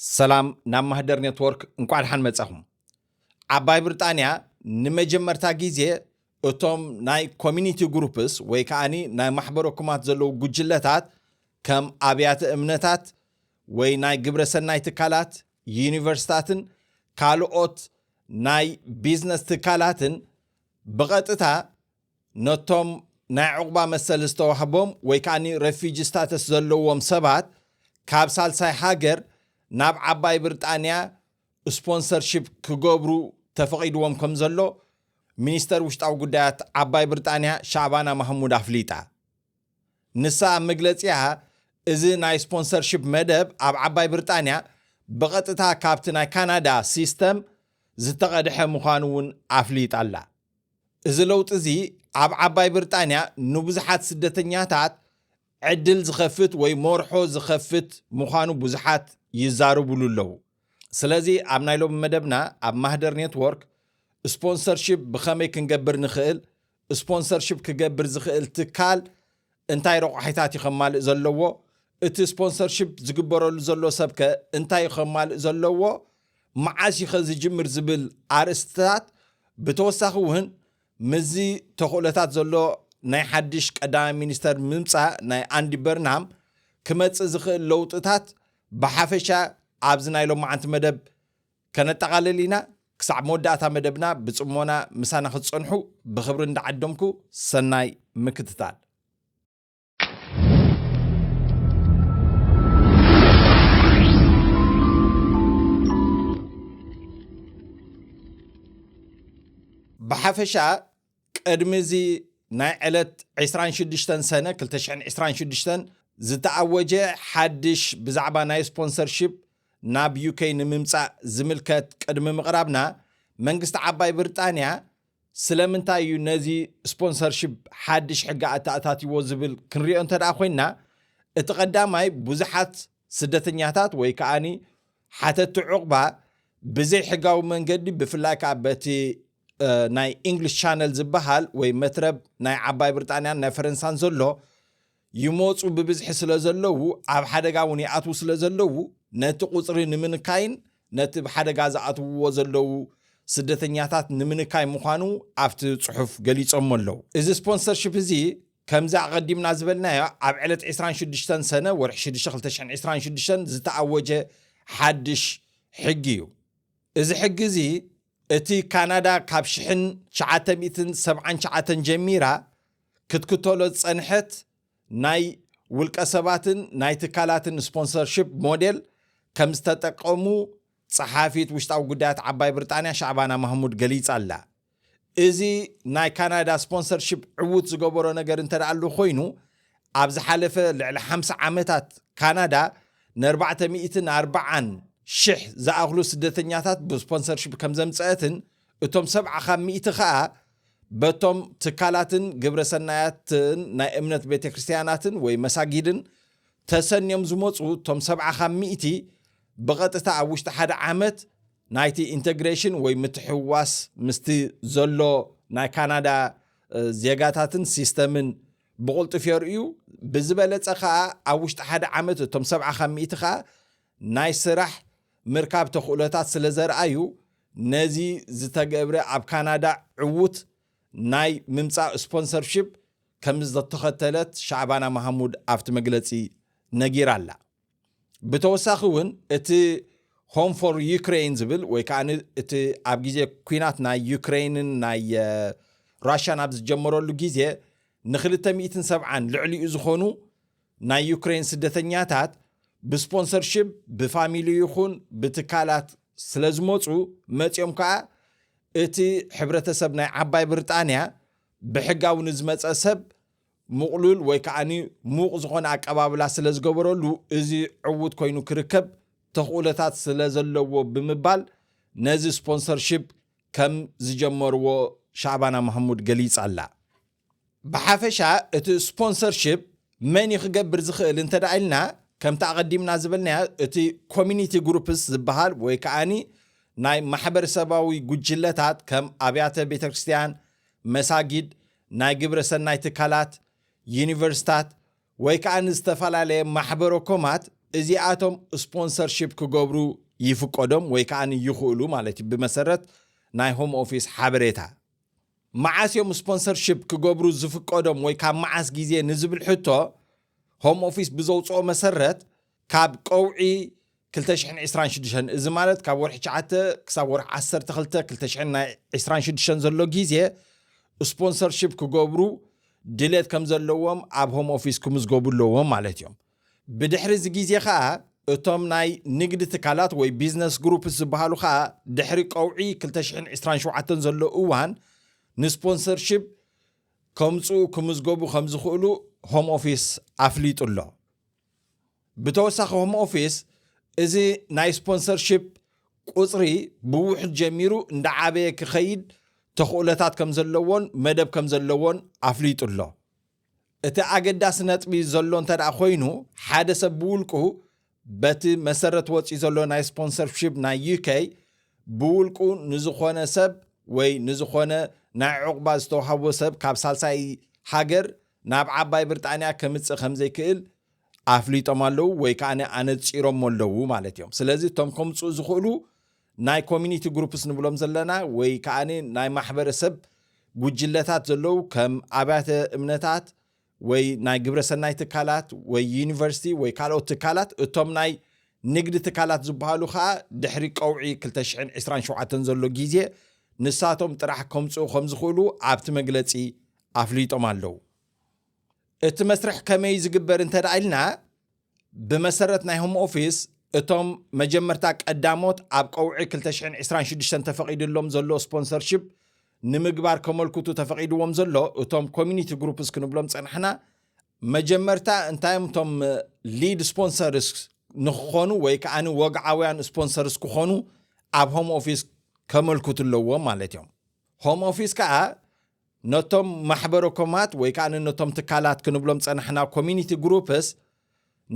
ሰላም ናብ ማህደር ኔትወርክ እንኳዕ ደሓን መጻኹም። ዓባይ ብሪጣንያ ንመጀመርታ ግዜ እቶም ናይ ኮሚኒቲ ግሩፕስ ወይ ከዓኒ ናይ ማሕበረ ኩማት ዘለዉ ጉጅለታት ከም ኣብያተ እምነታት ወይ ናይ ግብረ ሰናይ ትካላት ዩኒቨርስታትን ካልኦት ናይ ቢዝነስ ትካላትን ብቐጥታ ነቶም ናይ ዑቕባ መሰል ዝተዋህቦም ወይ ከኣ ረፊጂ ስታተስ ዘለዎም ሰባት ካብ ሳልሳይ ሃገር ናብ ዓባይ ብርጣንያ ስፖንሰርሺፕ ክገብሩ ተፈቒድዎም ከም ዘሎ ሚኒስተር ውሽጣዊ ጉዳያት ዓባይ ብርጣንያ ሻዕባና ማህሙድ ኣፍሊጣ። ንሳ ኣብ መግለጺኣ እዚ ናይ ስፖንሰርሺፕ መደብ ኣብ ዓባይ ብርጣንያ ብቐጥታ ካብቲ ናይ ካናዳ ሲስተም ዝተቐድሐ ምዃኑ'ውን ኣፍሊጣ'ላ። እዚ ለውጢ እዚ ኣብ ዓባይ ብርጣንያ ንብዙሓት ስደተኛታት ዕድል ዝኸፍት ወይ ሞርሖ ዝኸፍት ምዃኑ ብዙሓት ይዛረብሉ ኣለዉ። ስለዚ ኣብ ናይ ሎሚ መደብና ኣብ ማህደር ኔትዎርክ ስፖንሰርሺፕ ብኸመይ ክንገብር ንኽእል፣ ስፖንሰርሺፕ ክገብር ዝኽእል ትካል እንታይ ረቋሒታት እዩ ከማልእ ዘለዎ? እቲ ስፖንሰርሺፕ ዝግበረሉ ዘሎ ሰብከ እንታይ እዩ ከማልእ ዘለዎ? መዓስ እዩኸ ዝጅምር ዝብል ኣርእስትታት ብተወሳኺ እውን ምስዚ ተኽእሎታት ዘሎ ናይ ሓድሽ ቀዳማይ ሚኒስተር ምምጻእ ናይ ኣንዲ በርንሃም ክመጽእ ዝኽእል ለውጥታት ብሓፈሻ ኣብዚ ናይ ሎማዓንቲ መደብ ከነጠቓልል ኢና፣ ክሳዕ መወዳእታ መደብና ብጽሞና ምሳና ክትጸንሑ ብኽብሪ እንዳዓደምኩ ሰናይ ምክትታል። ብሓፈሻ ቅድሚ እዚ ናይ ዕለት ዕስራን ሽዱሽተን ሰነ ክልተ ሽሕን ዕስራን ሽዱሽተን ዝተኣወጀ ሓድሽ ብዛዕባ ናይ ስፖንሰርሺፕ ናብ ዩከይ ንምምጻእ ዝምልከት ቅድሚ ምቕራብና፣ መንግስቲ ዓባይ ብርጣንያ ስለምንታይ እዩ ነዚ ስፖንሰርሺፕ ሓድሽ ሕጊ ኣተኣታትይዎ ዝብል ክንሪኦ እንተድኣ ኮይንና፣ እቲ ቀዳማይ ብዙሓት ስደተኛታት ወይ ከኣ ሓተቲ ዑቕባ ብዘይ ሕጋዊ መንገዲ ብፍላይ ከኣ በቲ ናይ ኢንግሊሽ ቻነል ዝበሃል ወይ መትረብ ናይ ዓባይ ብርጣንያን ናይ ፈረንሳን ዘሎ ይመጹ ብብዝሒ ስለዘለዉ ኣብ ሓደጋ ውን ይኣትዉ ስለዘለዉ ነቲ ቁጽሪ ንምንካይን ነቲ ብ ሓደጋ ዝኣትውዎ ዘለዉ ስደተኛታት ንምንካይ ምዃኑ ኣብቲ ጽሑፍ ገሊጾሞ ኣለዉ። እዚ ስፖንሰርሺፕ እዚ ከምዚ ኣቐዲምና ዝበልናዮ ኣብ ዕለት ዕስራን ሽዱሽተን ሰነ ወርሒ ሽዱሽተ ክልተ ሽሕን ዕስራን ሽዱሽተን ዝተኣወጀ ሓድሽ ሕጊ እዩ። እዚ ሕጊ እዚ እቲ ካናዳ ካብ ሽሕን ትሽዓተ ሚእትን ሰብዓን ትሽዓተን ጀሚራ ክትክተሎ ዝጸንሐት ናይ ውልቀሰባትን ናይ ትካላትን ስፖንሰርሺፕ ሞዴል ከም ዝተጠቀሙ ጸሓፊት ውሽጣዊ ጉዳያት ዓባይ ብርጣንያ ሻዕባና ማህሙድ ገሊጻ'ላ። እዚ ናይ ካናዳ ስፖንሰርሺፕ ዕዉት ዝገበሮ ነገር እንተደኣሉ ኮይኑ፣ ኣብ ዝሓለፈ ልዕሊ ሓምሳ ዓመታት ካናዳ ንኣርባዕተ ሚእትን ኣርባዓን ሽሕ ዝኣኽሉ ስደተኛታት ብስፖንሰርሺፕ ከም ዘምጸአትን እቶም ሰብዓ ካብ ሚእቲ ከኣ በቶም ትካላትን ግብረ ሰናያትን ናይ እምነት ቤተ ክርስትያናትን ወይ መሳጊድን ተሰንዮም ዝመፁ እቶም ሰብዓ ካብ ሚእቲ ብቐጥታ ኣብ ውሽጢ ሓደ ዓመት ናይቲ ኢንተግሬሽን ወይ ምትሕዋስ ምስቲ ዘሎ ናይ ካናዳ ዜጋታትን ሲስተምን ብቕልጡፍ የርእዩ፣ ብዝበለጸ ከኣ ኣብ ውሽጢ ሓደ ዓመት እቶም ሰብዓ ካብ ሚእቲ ከኣ ናይ ስራሕ ምርካብ ተኽእሎታት ስለ ዘርኣዩ ነዚ ዝተገብረ ኣብ ካናዳ ዕዉት ናይ ምምጻእ ስፖንሰርሺፕ ከም ዘተኸተለት ሻዕባና መሃሙድ ኣብቲ መግለጺ ነጊራ ኣላ። ብተወሳኺ እውን እቲ ሆም ፎር ዩክሬን ዝብል ወይ ከዓ እቲ ኣብ ግዜ ኩናት ናይ ዩክሬንን ናይ ራሽያን ኣብ ዝጀመረሉ ግዜ ንክልተ ሚእትን ሰብዓን ልዕሊኡ ዝኾኑ ናይ ዩክሬን ስደተኛታት ብስፖንሰርሽፕ ብፋሚሊ ይኹን ብትካላት ስለ ዝመፁ መፂኦም ከዓ እቲ ሕብረተሰብ ናይ ዓባይ ብሪጣንያ ብሕጋዊ ንዝመፀ ሰብ ምቕሉል ወይ ከኣ ምዉቕ ዝኾነ ኣቀባብላ ስለ ዝገበረሉ እዚ ዕዉት ኮይኑ ክርከብ ተኽእሎታት ስለ ዘለዎ ብምባል ነዚ ስፖንሰርሺፕ ከም ዝጀመርዎ ሻዕባና ማህሙድ ገሊጻ'ላ። ብሓፈሻ እቲ ስፖንሰርሺፕ መን'ዩ ክገብር ዝኽእል እንተ ኢልና ከምቲ ኣቐዲምና ዝበልናዮ እቲ ኮሚኒቲ ግሩፕስ ዝበሃል ወይ ከኣ ናይ ማሕበረሰባዊ ጉጅለታት ከም ኣብያተ ቤተክርስትያን፣ መሳጊድ፣ ናይ ግብረ ሰናይ ትካላት፣ ዩኒቨርስታት ወይ ከኣ ንዝተፈላለየ ማሕበረ ኮማት እዚኣቶም ስፖንሰርሺፕ ክገብሩ ይፍቀዶም ወይ ከኣ ይኽእሉ ማለት እዩ ብመሰረት ናይ ሆም ኦፊስ ሓበሬታ። መዓስ እዮም ስፖንሰርሺፕ ክገብሩ ዝፍቀዶም ወይ ካብ መዓስ ግዜ ንዝብል ሕቶ ሆም ኦፊስ ብዘውጽኦ መሰረት ካብ ቀውዒ ክልተ ሽሕን ዕስራን ሽዱሽተን፣ እዚ ማለት ካብ ወርሒ ትሽዓተ ክሳብ ወርሒ ዓሰርተ ክልተ ክልተ ሽሕን ናይ ዕስራን ሽዱሽተን ዘሎ ግዜ ስፖንሰርሺፕ ክገብሩ ድሌት ከም ዘለዎም ኣብ ሆም ኦፊስ ክምዝገቡ ኣለዎም ማለት እዮም። ብድሕሪ እዚ ግዜ ከኣ እቶም ናይ ንግዲ ትካላት ወይ ቢዝነስ ግሩፕስ ዝበሃሉ ከኣ ድሕሪ ቀውዒ ክልተ ሽሕን ዕስራን ሸውዓተን ዘሎ እዋን ንስፖንሰርሺፕ ከምጽኡ ክምዝገቡ ከም ዝኽእሉ ሆም ኦፊስ ኣፍሊጡ ኣሎ። ብተወሳኺ ሆም ኦፊስ እዚ ናይ ስፖንሰርሺፕ ቁፅሪ ብውሑድ ጀሚሩ እንዳዓበየ ክኸይድ ተኽእሎታት ከምዘለዎን መደብ ከምዘለዎን ኣፍሊጡ ኣሎ። እቲ ኣገዳሲ ነጥቢ ዘሎ እንተድኣ ኮይኑ ሓደ ሰብ ብውልቁ በቲ መሰረት ወፂኡ ዘሎ ናይ ስፖንሰርሺፕ ናይ UK ብውልቁ ንዝኾነ ሰብ ወይ ንዝኾነ ናይ ዑቕባ ዝተውሃቦ ሰብ ካብ ሳልሳይ ሃገር ናብ ዓባይ ብርጣንያ ከምጽእ ከምዘይክእል ኣፍሊጦም ኣለዉ ወይ ከኣ ኣነጺሮሞ ኣለዉ ማለት እዮም ስለዚ እቶም ከምጽኡ ዝኽእሉ ናይ ኮሚኒቲ ግሩፕስ ንብሎም ዘለና ወይ ከኣ ናይ ማሕበረሰብ ጉጅለታት ዘለዉ ከም ኣብያተ እምነታት ወይ ናይ ግብረ ሰናይ ትካላት ወይ ዩኒቨርሲቲ ወይ ካልኦት ትካላት እቶም ናይ ንግዲ ትካላት ዝበሃሉ ከኣ ድሕሪ ቀውዒ 227 ዘሎ ግዜ ንሳቶም ጥራሕ ከምጽኡ ከምዝኽእሉ ኣብቲ መግለጺ ኣፍሊጦም ኣለው። እቲ መስርሕ ከመይ እዩ ዝግበር እንተ ኢልና ብመሰረት ናይ ሆም ኦፊስ እቶም መጀመርታ ቀዳሞት ኣብ ቀውዒ 226 ተፈቒድሎም ዘሎ ስፖንሰርሽፕ ንምግባር ከመልክቱ ተፈቒድዎም ዘሎ እቶም ኮሚኒቲ ግሩፕስ ክንብሎም ፀናሕና መጀመርታ እንታይም እቶም ሊድ ስፖንሰርስ ንክኾኑ ወይ ከዓ ወግዓውያን ስፖንሰርስ ክኾኑ ኣብ ሆም ኦፊስ ከመልክቱ ኣለዎም ማለት እዮም ሆም ኦፊስ ከዓ ነቶም ማሕበረ-ኮማት ወይ ከኣ ነቶም ትካላት ክንብሎም ዝጸናሕና ኮሚኒቲ ግሩፕስ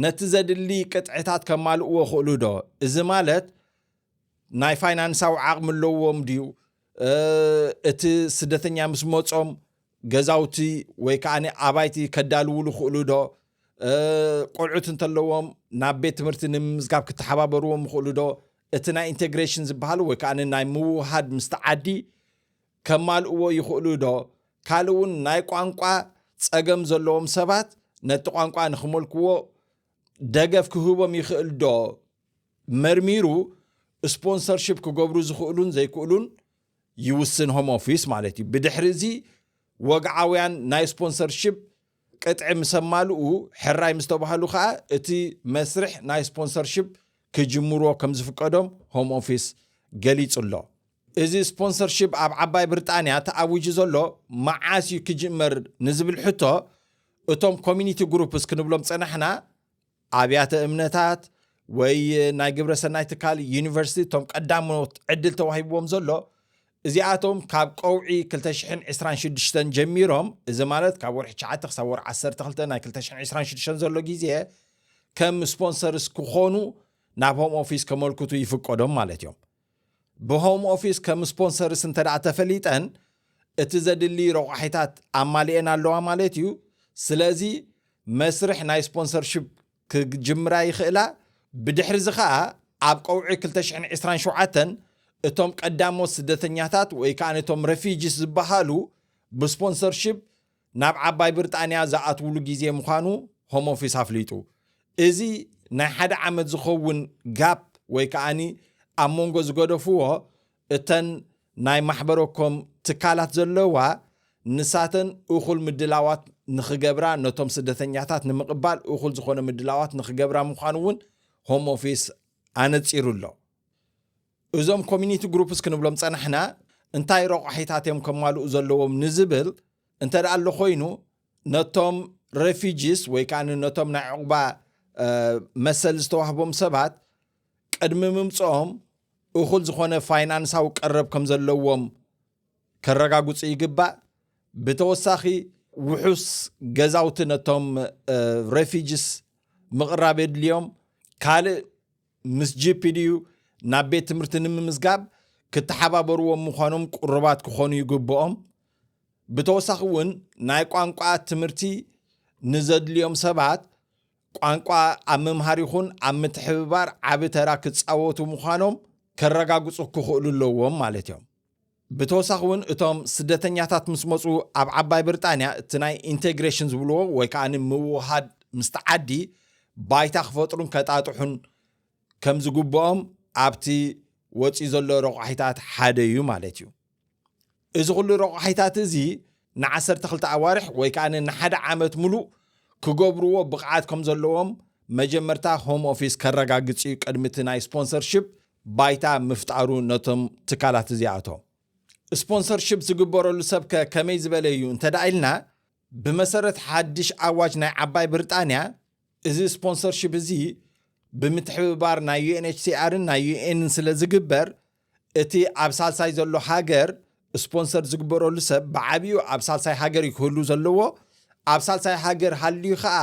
ነቲ ዘድሊ ቅጥዕታት ከማልእዎ ይኽእሉ ዶ? እዚ ማለት ናይ ፋይናንሳዊ ዓቕሚ ኣለዎም ድዩ? እቲ ስደተኛ ምስ መጾም ገዛውቲ ወይ ከኣ ኣባይቲ ከዳልውሉ ይኽእሉ ዶ? ቆልዑት እንተለዎም ናብ ቤት ትምህርቲ ንምምዝጋብ ክተሓባበርዎም ይኽእሉ ዶ? እቲ ናይ ኢንተግሬሽን ዝበሃል ወይ ከኣ ናይ ምውህሃድ ምስቲ ዓዲ ከማልእዎ ይኽእሉ'ዶ? ካልእ'ውን ናይ ቋንቋ ጸገም ዘለዎም ሰባት ነቲ ቋንቋ ንኽመልክዎ ደገፍ ክህቦም ይኽእል'ዶ? መርሚሩ ስፖንሰርሺፕ ክገብሩ ዝኽእሉን ዘይክእሉን ይውስን ሆም ኦፊስ ማለት እዩ። ብድሕሪ'ዚ ወግዓውያን ናይ ስፖንሰርሺፕ ቅጥዒ ምስ ኣማልኡ ሕራይ ምስ ተባህሉ ከኣ እቲ መስርሕ ናይ ስፖንሰርሺፕ ክጅምሩዎ ከም ዝፍቀዶም ሆም ኦፊስ ገሊጹ'ሎ። እዚ ስፖንሰርሺፕ ኣብ ዓባይ ብርጣንያ ተኣዊጁ ዘሎ መዓስ እዩ ክጅመር ንዝብል ሕቶ እቶም ኮሚኒቲ ግሩፕስ ክንብሎም ዝጸናሕና ኣብያተ እምነታት ወይ ናይ ግብረ ሰናይ ትካል ዩኒቨርሲቲ እቶም ቀዳሞት ዕድል ተዋሂብዎም ዘሎ እዚኣቶም ካብ ቀውዒ 226 ጀሚሮም እዚ ማለት ካብ ወርሒ 9 ክሳብ ወርሒ 12 ናይ 226 ዘሎ ግዜ ከም ስፖንሰርስ ክኾኑ ናብ ሆም ኦፊስ ከመልክቱ ይፍቀዶም ማለት እዮም ብሆም ኦፊስ ከም ስፖንሰርስ እንተ ተፈሊጠን እቲ ዘድሊ ረቋሒታት ኣማሊኤን ኣለዋ ማለት እዩ። ስለዚ መስርሕ ናይ ስፖንሰርሽፕ ክጅምራ ይኽእላ። ብድሕርዚ ከኣ ኣብ ቀውዒ ክልተ ሽሕን ዕስራን ሸውዓተን እቶም ቀዳሞት ስደተኛታት ወይ ከኣ እቶም ረፊጂስ ዝበሃሉ ብስፖንሰርሽፕ ናብ ዓባይ ብርጣንያ ዝኣትውሉ ግዜ ምዃኑ ሆም ኦፊስ ኣፍሊጡ። እዚ ናይ ሓደ ዓመት ዝኸውን ጋፕ ወይ ከኣ ኣብ መንጎ ዝገደፍዎ እተን ናይ ማሕበረኮም ትካላት ዘለዋ ንሳተን እኹል ምድላዋት ንኽገብራ ነቶም ስደተኛታት ንምቕባል እኹል ዝኾነ ምድላዋት ንኽገብራ ምዃኑ እውን ሆም ኦፊስ ኣነጺሩ ኣሎ። እዞም ኮሚኒቲ ግሩፕስ ክንብሎም ጸናሕና እንታይ ረቋሒታት እዮም ከማልኡ ዘለዎም ንዝብል እንተ ደኣ ኣሎ ኮይኑ ነቶም ረፊጂስ ወይ ከዓ ነቶም ናይ ዕቑባ መሰል ዝተዋህቦም ሰባት ቅድሚ ምምፅኦም እኹል ዝኾነ ፋይናንሳዊ ቀረብ ከም ዘለዎም ከረጋግፁ ይግባእ ብተወሳኺ ውሑስ ገዛውቲ ነቶም ረፊጂስ ምቕራብ የድልዮም ካልእ ምስ GPDU ናብ ቤት ትምህርቲ ንምምዝጋብ ክተሓባበርዎም ምዃኖም ቅሩባት ክኾኑ ይግብኦም። ብተወሳኺ እውን ናይ ቋንቋ ትምህርቲ ንዘድልዮም ሰባት ቋንቋ ኣብ ምምሃር ይኹን ኣብ ምትሕብባር ዓቢ ተራ ክጻወቱ ምዃኖም ከረጋግጹ ክኽእሉ ኣለዎም ማለት እዮም። ብተወሳኺ እውን እቶም ስደተኛታት ምስ መፁ ኣብ ዓባይ ብርጣንያ እቲ ናይ ኢንቴግሬሽን ዝብልዎ ወይ ከዓ ምውህሃድ ምስቲ ዓዲ ባይታ ክፈጥሩን ከጣጥሑን ከምዝግብኦም ኣብቲ ወፂኡ ዘሎ ረቋሒታት ሓደ እዩ ማለት እዩ። እዚ ኩሉ ረቋሒታት እዚ ንዓሰርተ ክልተ ኣዋርሕ ወይ ከኣ ንሓደ ዓመት ምሉእ ክገብርዎ ብቕዓት ከም ዘለዎም መጀመርታ ሆም ኦፊስ ከረጋግጽ እዩ ቅድሚ እቲ ናይ ስፖንሰርሺፕ ባይታ ምፍጣሩ ነቶም ትካላት እዚኣቶም። ስፖንሰርሺፕ ዝግበረሉ ሰብ ከ ከመይ ዝበለ እዩ እንተ ደኣ ኢልና ብመሰረት ሓድሽ ኣዋጅ ናይ ዓባይ ብርጣንያ እዚ ስፖንሰርሺፕ እዚ ብምትሕብባር ናይ UNHCR ን ናይ UN ን ስለ ዝግበር እቲ ኣብ ሳልሳይ ዘሎ ሃገር ስፖንሰር ዝግበረሉ ሰብ ብዓብኡ ኣብ ሳልሳይ ሃገር እዩ ክህሉ ዘለዎ ኣብ ሳልሳይ ሃገር ሃልዩ ከዓ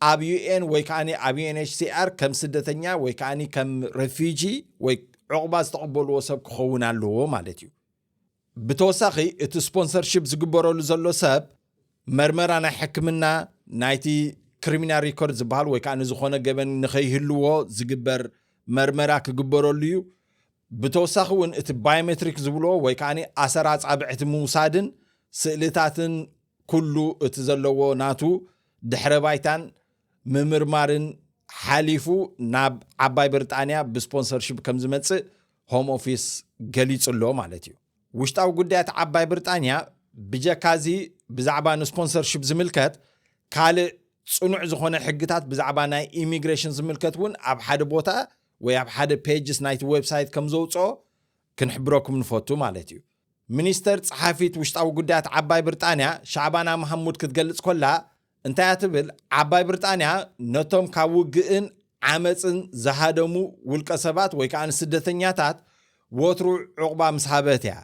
ኣብ ዩኤን ወይ ከዓ ኣብ ዩኤንኤችሲኣር ከም ስደተኛ ወይ ከዓ ከም ረፊጂ ወይ ዕቑባ ዝተቐበልዎ ሰብ ክኸውን ኣለዎ ማለት እዩ ብተወሳኺ እቲ ስፖንሰርሺፕ ዝግበረሉ ዘሎ ሰብ መርመራ ናይ ሕክምና ናይቲ ክሪሚናል ሪኮርድ ዝበሃል ወይ ከዓ ንዝኾነ ገበን ንኸይህልዎ ዝግበር መርመራ ክግበረሉ እዩ ብተወሳኺ እውን እቲ ባዮሜትሪክ ዝብልዎ ወይ ከዓ ኣሰራ ፃብዕቲ ምውሳድን ስእልታትን ኩሉ እቲ ዘለዎ ናቱ ድሕረ ባይታን ምምርማርን ሓሊፉ ናብ ዓባይ ብርጣንያ ብስፖንሰርሺፕ ከም ዝመጽእ ሆም ኦፊስ ገሊጹ ኣሎ ማለት እዩ። ውሽጣዊ ጉዳያት ዓባይ ብርጣንያ ብጀካ እዚ ብዛዕባ ንስፖንሰርሺፕ ዝምልከት ካልእ ጽኑዕ ዝኾነ ሕግታት ብዛዕባ ናይ ኢሚግሬሽን ዝምልከት እውን ኣብ ሓደ ቦታ ወይ ኣብ ሓደ ፔጅስ ናይቲ ዌብሳይት ከም ዘውፅኦ ክንሕብረኩም ንፈቱ ማለት እዩ። ሚኒስተር ጸሓፊት ውሽጣዊ ጉዳያት ዓባይ ብርጣንያ ሻዕባና መሃሙድ ክትገልጽ ኮላ እንታይ እያ ትብል? ዓባይ ብርጣንያ ነቶም ካብ ውግእን ዓመጽን ዝሃደሙ ውልቀሰባት ወይ ከኣ ንስደተኛታት ወትሩ ዑቕባ ምስ ሃበት እያ።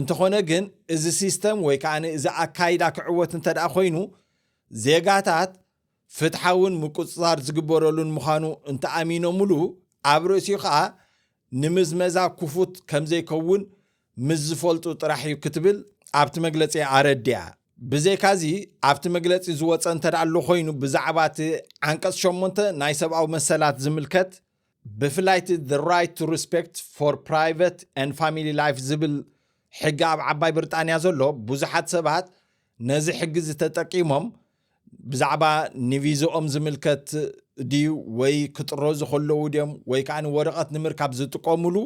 እንተኾነ ግን እዚ ሲስተም ወይ ከኣ እዚ ኣካይዳ ክዕወት እንተድኣ ኮይኑ ዜጋታት ፍትሓውን ምቁጽጻር ዝግበረሉን ምዃኑ እንተኣሚኖምሉ ኣብ ርእሲኡ ከኣ ንምዝመዛ ክፉት ከምዘይከውን ምስ ዝፈልጡ ጥራሕ እዩ ክትብል ኣብቲ መግለፂኣ ኣረዲኣ። ብዘይካዚ ኣብቲ መግለፂ ዝወፀ እንተድኣ ኣሎ ኮይኑ ብዛዕባ እቲ ዓንቀፅ ሸሞንተ ናይ ሰብኣዊ መሰላት ዝምልከት ብፍላይ እቲ The Right to Respect for Private and Family Life ዝብል ሕጊ ኣብ ዓባይ ብርጣንያ ዘሎ ብዙሓት ሰባት ነዚ ሕጊ እዚ ተጠቂሞም ብዛዕባ ንቪዝኦም ዝምልከት ድዩ ወይ ክጥረዙ ከለዉ ድዮም ወይ ከዓ ወረቐት ንምርካብ ዝጥቀሙሉ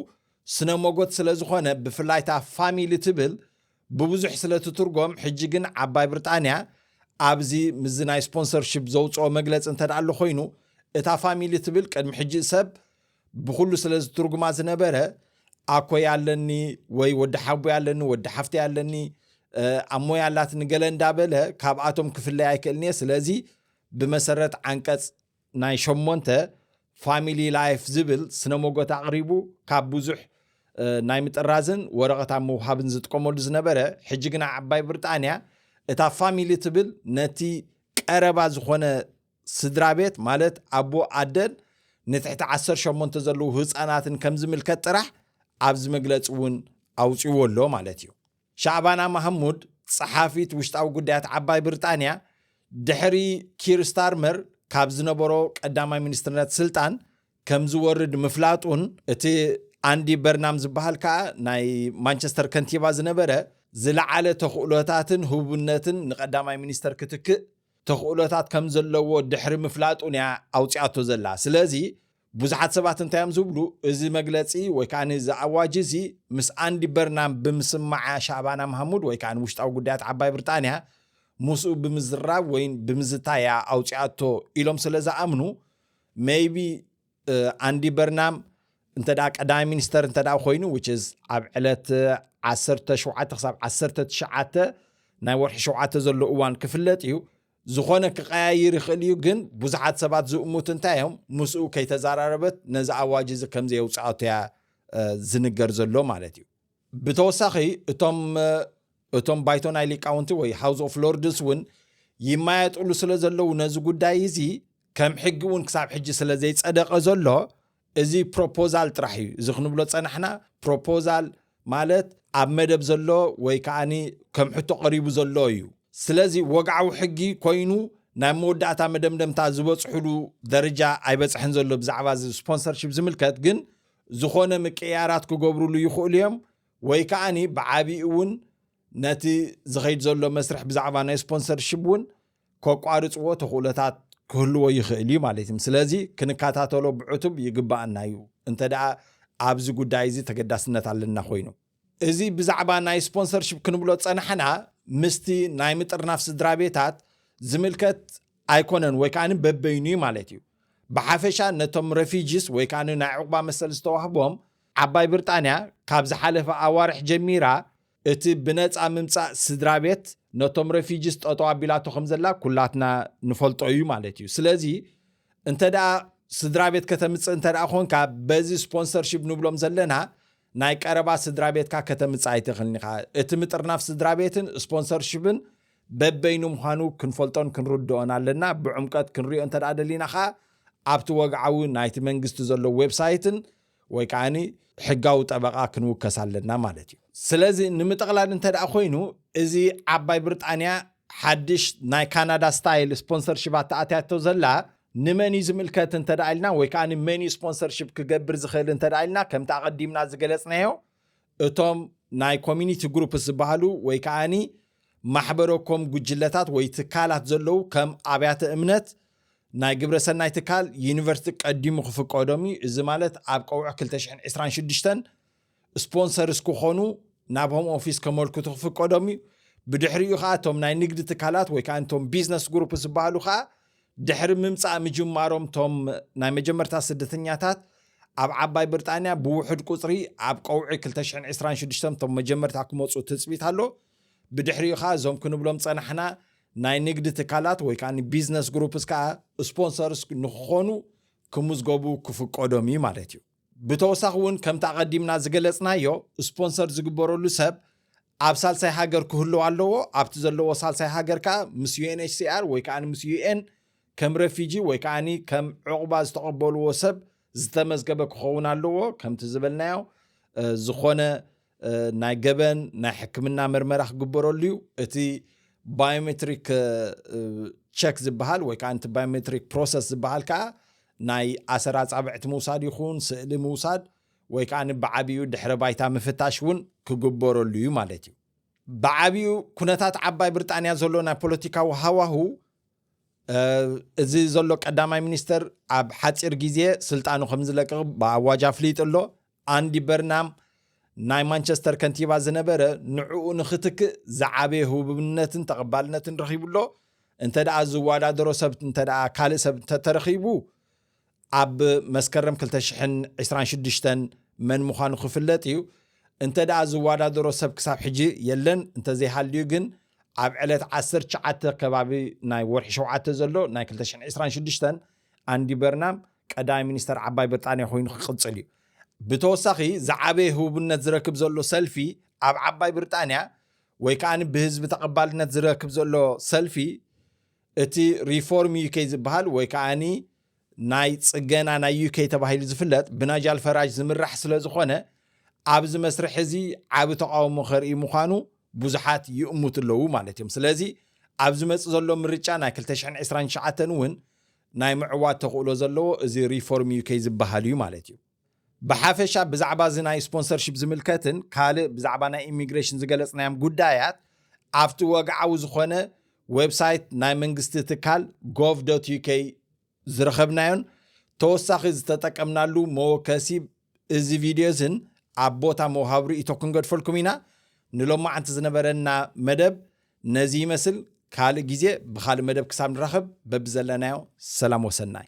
ስነ ሞጎት ስለ ዝኾነ ብፍላይ እታ ፋሚሊ ትብል ብብዙሕ ስለ ትትርጎም ሕጂ ግን ዓባይ ብርጣንያ ኣብዚ ምስዚ ናይ ስፖንሰርሺፕ ዘውፅኦ መግለፂ እንተድኣ ኣሎ ኮይኑ እታ ፋሚሊ ትብል ቅድሚ ሕጂ ሰብ ብኹሉ ስለ ዝትርጉማ ዝነበረ ኣኮይ ኣለኒ ወይ ወዲ ሓቦይ ኣለኒ ወዲ ሓፍተይ ኣለኒ ኣሞይ ኣላት ንገለ እንዳበለ ካብኣቶም ክፍለይ ኣይክእልን እየ ስለዚ ብመሰረት ዓንቀፅ ናይ ሸሞንተ ፋሚሊ ላይፍ ዝብል ስነ ሞጎት ኣቕሪቡ ካብ ብዙሕ ናይ ምጥራዝን ወረቐት ኣብ ምውሃብን ዝጥቀመሉ ዝነበረ ሕጂ ግና ዓባይ ብርጣንያ እታ ፋሚሊ ትብል ነቲ ቀረባ ዝኾነ ስድራቤት ማለት ኣቦ ኣደን ንትሕቲ ዓሰርተ ሸሞንተ ዘለዉ ህጻናትን ከም ዝምልከት ጥራሕ ኣብዚ መግለጺ እውን ኣውጺዎ ኣሎ ማለት እዩ። ሻዕባና ማህሙድ ጸሓፊት ውሽጣዊ ጉዳያት ዓባይ ብርጣንያ ድሕሪ ኪር ስታርመር ካብ ዝነበሮ ቀዳማይ ሚኒስትርነት ስልጣን ከም ዝወርድ ምፍላጡን እቲ ኣንዲ በርናም ዝበሃል ከኣ ናይ ማንቸስተር ከንቲባ ዝነበረ ዝለዓለ ተኽእሎታትን ህቡብነትን ንቀዳማይ ሚኒስተር ክትክእ ተኽእሎታት ከም ዘለዎ ድሕሪ ምፍላጡን'ያ ኣውጺኣቶ ዘላ። ስለዚ ብዙሓት ሰባት እንታይ'ዮም ዝብሉ፣ እዚ መግለጺ ወይ ከኣ እዚ ኣዋጅ'ዚ ምስ ኣንዲ በርናም ብምስማዓ ሻእባና ማህሙድ ወይ ከኣ ውሽጣዊ ጉዳያት ዓባይ ብርጣንያ ምስኡ ብምዝራብ ወይ ብምዝታይ'ያ ኣውጺኣቶ ኢሎም ስለ ዝኣምኑ maybe ኣንዲ በርናም እንተ ቀዳማይ ሚኒስተር እንተ ኮይኑ which is ኣብ ዕለት 17 ክሳብ 19 ናይ ወርሒ ሸውዓተ ዘሎ እዋን ክፍለጥ እዩ ዝኾነ ክቀያይር ይኽእል እዩ ግን ብዙሓት ሰባት ዝእሙት እንታይ እዮም ምስኡ ከይተዘራረበት ነዚ ኣዋጅ እዚ ከምዘየውፅኣቶ እያ ዝንገር ዘሎ ማለት እዩ ብተወሳኺ እቶም እቶም ባይቶ ናይ ሊቃውንቲ ወይ ሃውስ ኦፍ ሎርድስ እውን ይማየጥሉ ስለ ዘለዉ ነዚ ጉዳይ እዚ ከም ሕጊ እውን ክሳብ ሕጂ ስለ ዘይጸደቐ ዘሎ እዚ ፕሮፖዛል ጥራሕ እዩ እዚ ክንብሎ ጸናሕና ፕሮፖዛል ማለት ኣብ መደብ ዘሎ ወይ ከዓኒ ከም ሕቶ ቀሪቡ ዘሎ እዩ ስለዚ ወግዓዊ ሕጊ ኮይኑ ናብ መወዳእታ መደምደምታ ዝበፅሕሉ ደረጃ ኣይበፅሐን ዘሎ ብዛዕባ እዚ ስፖንሰርሽፕ ዝምልከት ግን ዝኾነ ምቅይያራት ክገብሩሉ ይኽእሉ እዮም ወይ ከዓ ብዓቢኡ እውን ነቲ ዝኸይድ ዘሎ መስርሕ ብዛዕባ ናይ ስፖንሰርሽፕ እውን ከቋርፅዎ ተኽእሎታት ክህልዎ ይኽእል እዩ ማለት እዩ ስለዚ ክንከታተሎ ብዕቱብ ይግባእና እዩ እንተ ኣብዚ ጉዳይ እዚ ተገዳስነት ኣለና ኮይኑ እዚ ብዛዕባ ናይ ስፖንሰርሽፕ ክንብሎ ዝጸናሕና ምስቲ ናይ ምጥርናፍ ስድራ ቤታት ዝምልከት ኣይኮነን ወይ ከዓኒ በበይኑ እዩ ማለት እዩ ብሓፈሻ ነቶም ረፊጅስ ወይ ከዓኒ ናይ ዕቑባ መሰል ዝተዋህቦም ዓባይ ብርጣንያ ካብ ዝሓለፈ ኣዋርሕ ጀሚራ እቲ ብነፃ ምምፃእ ስድራ ቤት ነቶም ረፊጅስ ጠጠው ኣቢላቶ ከም ዘላ ኩላትና ንፈልጦ እዩ ማለት እዩ ስለዚ እንተ ደኣ ስድራ ቤት ከተምፅእ እንተ ደኣ ኮንካ በዚ ስፖንሰርሽፕ ንብሎም ዘለና ናይ ቀረባ ስድራቤትካ ከተምጽእ ኣይትኽእልን ኢኻ። እቲ ምጥርናፍ ስድራቤትን ስፖንሰርሺፕን በበይኑ ምዃኑ ክንፈልጦን ክንርድኦን ኣለና። ብዕምቀት ክንሪኦ እንተ ደሊና ከኣ ኣብቲ ወግዓዊ ናይቲ መንግስቲ ዘሎ ዌብሳይትን ወይ ከኣ ሕጋዊ ጠበቓ ክንውከስ ኣለና ማለት እዩ። ስለዚ ንምጥቕላል እንተ ኮይኑ እዚ ዓባይ ብርጣንያ ሓድሽ ናይ ካናዳ ስታይል ስፖንሰርሽባት ተኣትያቶ ዘላ ንመን እዩ ዝምልከት እንተ ኢልና ወይ ከዓ መን እዩ ስፖንሰርሽፕ ክገብር ዝኽእል እንተ ኢልና ከምቲ ኣቐዲምና ዝገለፅናዮ እቶም ናይ ኮሚኒቲ ግሩፕስ ዝበሃሉ ወይ ከዓኒ ማሕበረኮም ጉጅለታት ወይ ትካላት ዘለዉ ከም ኣብያተ እምነት ናይ ግብረ ሰናይ ትካል ዩኒቨርሲቲ ቀዲሙ ክፍቀዶም እዩ እዚ ማለት ኣብ ቀውዕ 226 ስፖንሰርስ ክኾኑ ናብ ሆም ኦፊስ ከመልክቱ ክፍቀዶም እዩ። ብድሕሪኡ ከዓ እቶም ናይ ንግዲ ትካላት ወይ ከዓ እቶም ቢዝነስ ግሩፕ ዝበሃሉ ከዓ ድሕሪ ምምፃእ ምጅማሮም እቶም ናይ መጀመርታ ስደተኛታት ኣብ ዓባይ ብርጣንያ ብውሑድ ቁፅሪ ኣብ ቀውዒ 2026 እቶም መጀመርታ ክመፁ ትፅቢት ኣሎ። ብድሕሪኡ ከዓ እዞም ክንብሎም ዝፀናሕና ናይ ንግዲ ትካላት ወይ ከዓ ቢዝነስ ግሩፕስ ከዓ ስፖንሰርስ ንክኾኑ ክምዝገቡ ክፍቀዶም እዩ ማለት እዩ። ብተወሳኺ እውን ከምቲ ኣቐዲምና ዝገለፅናዮ ስፖንሰር ዝግበረሉ ሰብ ኣብ ሳልሳይ ሃገር ክህልው ኣለዎ ኣብቲ ዘለዎ ሳልሳይ ሃገር ከዓ ምስ ዩኤንኤችሲኣር ወይ ከዓ ምስ ዩኤን ከም ረፊጂ ወይ ከዓ ከም ዕቑባ ዝተቐበልዎ ሰብ ዝተመዝገበ ክኸውን ኣለዎ ከምቲ ዝበልናዮ ዝኾነ ናይ ገበን ናይ ሕክምና ምርመራ ክግበረሉ እዩ እቲ ባዮሜትሪክ ቸክ ዝበሃል ወይ ከዓ እቲ ባዮሜትሪክ ፕሮሰስ ዝበሃል ከዓ ናይ ኣሰር ኣፃብዕቲ ምውሳድ ይኹን ስእሊ ምውሳድ ወይ ከዓ ብዓብኡ ድሕረ ባይታ ምፍታሽ እውን ክግበረሉ እዩ ማለት እዩ ብዓብኡ ኩነታት ዓባይ ብርጣንያ ዘሎ ናይ ፖለቲካዊ ሃዋሁ እዚ ዘሎ ቀዳማይ ሚኒስተር ኣብ ሓፂር ግዜ ስልጣኑ ከም ዝለቅቕ ብኣዋጅ ኣፍሊጡ ኣሎ ኣንዲ በርናም ናይ ማንቸስተር ከንቲባ ዝነበረ ንዕኡ ንኽትክእ ዝዓበየ ህቡብነትን ተቐባልነትን ረኺቡ ኣሎ። እንተደኣ ዝወዳደሮ ሰብ እንተደኣ ካልእ ሰብ እንተተረኺቡ ኣብ መስከረም 2026 መን ምዃኑ ክፍለጥ እዩ። እንተደኣ ዝወዳደሮ ሰብ ክሳብ ሕጂ የለን፣ እንተዘይሃልዩ ግን ኣብ ዕለት ዓሰርተ ትሽዓተ ከባቢ ናይ ወርሒ ሸውዓተ ዘሎ ናይ 2026 ኣንዲ በርናም ቀዳማይ ሚኒስተር ዓባይ ብርጣንያ ኮይኑ ክቕጽል እዩ። ብተወሳኺ ዝዓበየ ህቡብነት ዝረክብ ዘሎ ሰልፊ ኣብ ዓባይ ብርጣንያ ወይ ከኣ ብህዝቢ ተቐባልነት ዝረክብ ዘሎ ሰልፊ እቲ ሪፎርም ዩኬ ዝበሃል ወይ ከኣ ናይ ጽገና ናይ ዩኬ ተባሂሉ ዝፍለጥ ብናጃል ፈራጅ ዝምራሕ ስለ ዝኾነ ኣብዚ መስርሕ እዚ ዓቢ ተቃውሞ ከርኢ ምዃኑ ብዙሓት ይእሙት ኣለዉ ማለት እዮም ስለዚ ኣብ ዝመጽእ ዘሎ ምርጫ ናይ 2029 እውን ናይ ምዕዋት ተኽእሎ ዘለዎ እዚ ሪፎርም እዩ ከይዝበሃል እዩ ማለት እዩ። ብሓፈሻ ብዛዕባ እዚ ናይ ስፖንሰርሺፕ ዝምልከትን ካልእ ብዛዕባ ናይ ኢሚግሬሽን ዝገለጽናዮም ጉዳያት ኣብቲ ወግዓዊ ዝኾነ ዌብሳይት ናይ መንግስቲ ትካል gov.uk ዝረኸብናዮን ተወሳኺ ዝተጠቀምናሉ መወከሲ እዚ ቪድዮ እዝን ኣብ ቦታ ምውሃብ ርእይቶ ክንገድፈልኩም ኢና። ንሎማዓንቲ ዝነበረና መደብ ነዚ ይመስል ካልእ ግዜ ብካልእ መደብ ክሳብ ንራኸብ በብዘለናዮ ሰላም ወሰናይ።